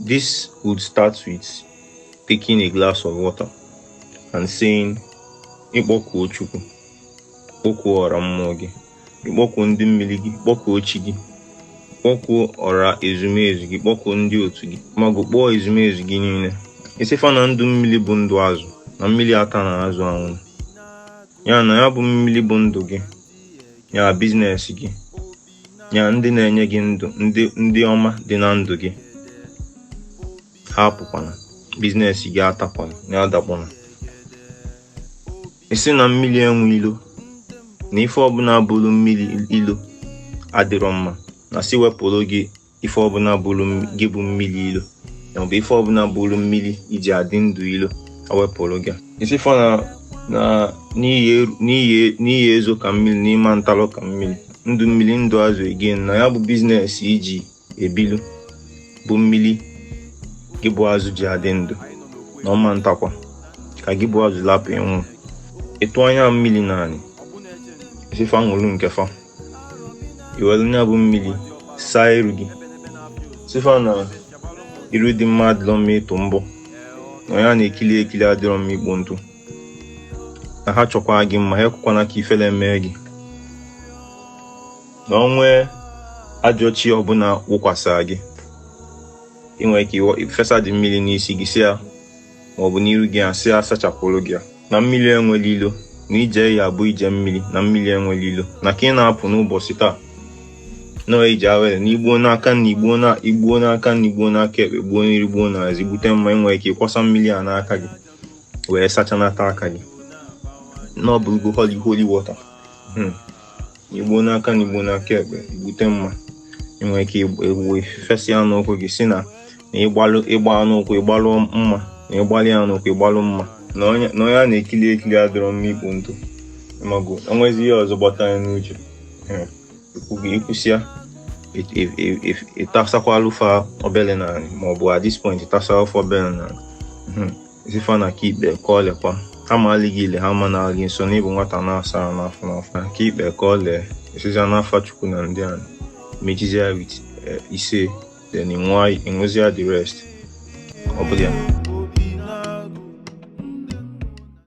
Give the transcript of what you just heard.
This would start with taking a glass of water and saying, Ị kpọkuo Chukwu, kpọkuo ọra mmụọ gị, ị kpọkuo ndị mmiri gị, kpọkuo chi gị, kpọkuo ọra ezumezu gị, kpọkuo ndị otu gị, ma gụkpọọ ezumezu gị niile. Ị sị fa na ndụ mmiri bụ ndụ azụ na mmiri ata na azụ anwụ. Ya na ya bụ mmiri bụ ndụ gị, ya biznes gị, ya ndị na-enye gị ndụ ndị ndị ọma dị na ndụ gị ha apụkwana biznes gị atakwana ya adakwana ị sị na mmiri enwe ilo na ife ọbụla buru mmiri ilo adịrọ mma na sị wepụrụ gị ife ọbụla buru gị bụ mmiri ilo ya bụ ife ọbụla buru mmiri i ji adị ndụ ilo e wepụrụ gị ị sị fa na na i ya-ezo ka mmiri na ị ma ntalụ ka mmiri ndụ mmiri ndụ azụ again na ya bụ biznes i ji ebilu bụ mmiri gị bụ azụ ji adị ndụ na ọ ma ntakwa ka gị bụ azụ lapụ ịnwụ ị tụanye mmiri n'anị ị sị fa ṅụrụ nke fa i were nya bụ mmiri saa iru gị sị fa na iru dị mma adịrọ mma ịtụ mbọ na onye a na-ekili ekili adịrọ mma ikpo ntụ na ha chọkwa gị mma ha ekwekwana ka ifele mee gị na o nwee ajọ chi ọbụla wụkwasara gị ị nwere ike ifesadị mmiri n'isi gị sị ya ma ọ bụ n'iru gị a sị ya sachapụrụ gị ya na mmiri enwerọ ilo na ije gị ya-abụ ije mmiri na mmiri enwerọ ilo na ka ị na-apụ n'ụbọchị taa na ọ ije awele na i gbuo n'aka na i gbuo na i gbuo n'aka nni gbuo n'aka ekpe gbuo n'iru gbuo n'azụ i gbute mma i nwere ike ịkwasa mmiri a n'aka gị wee sachanata aka gị na ọ bụrụgo holy holy water Hmm. i gbuo n'aka nni gbuo n'aka ekpe i gbute mma ị nwere ike egbuwe fesa ya n'ụkwụ gị sị na na ịgbalụ ịgba n'ụkwụ ịgbalụ mma na ịgbalị ya n'ụkwụ ịgbalụ mma na onye na onye a na-ekiri ekiri adịrọ mma ikpo ntụ maọbụ e nwezi ihe ọzọ gbata gị n'uche Eh, ikwu gị i kwusịa it- it- it- it- ị tasakwalụ fa obele n'anị maọbụ at this point ị tasakwalụ fa obele n'anị sị fa na ka i kpe ka o lekwa ha malụ gị ile ha amana gị nsọ na ị bụ nwata na-asa ahụ n'afọ n'afọ na ka i kpe ka o lee ị sịzịa n'afa Chukwu na ndị a mechizi ya with isee then ịnwa ị ṅụzịa the rest ọ bụlụ ya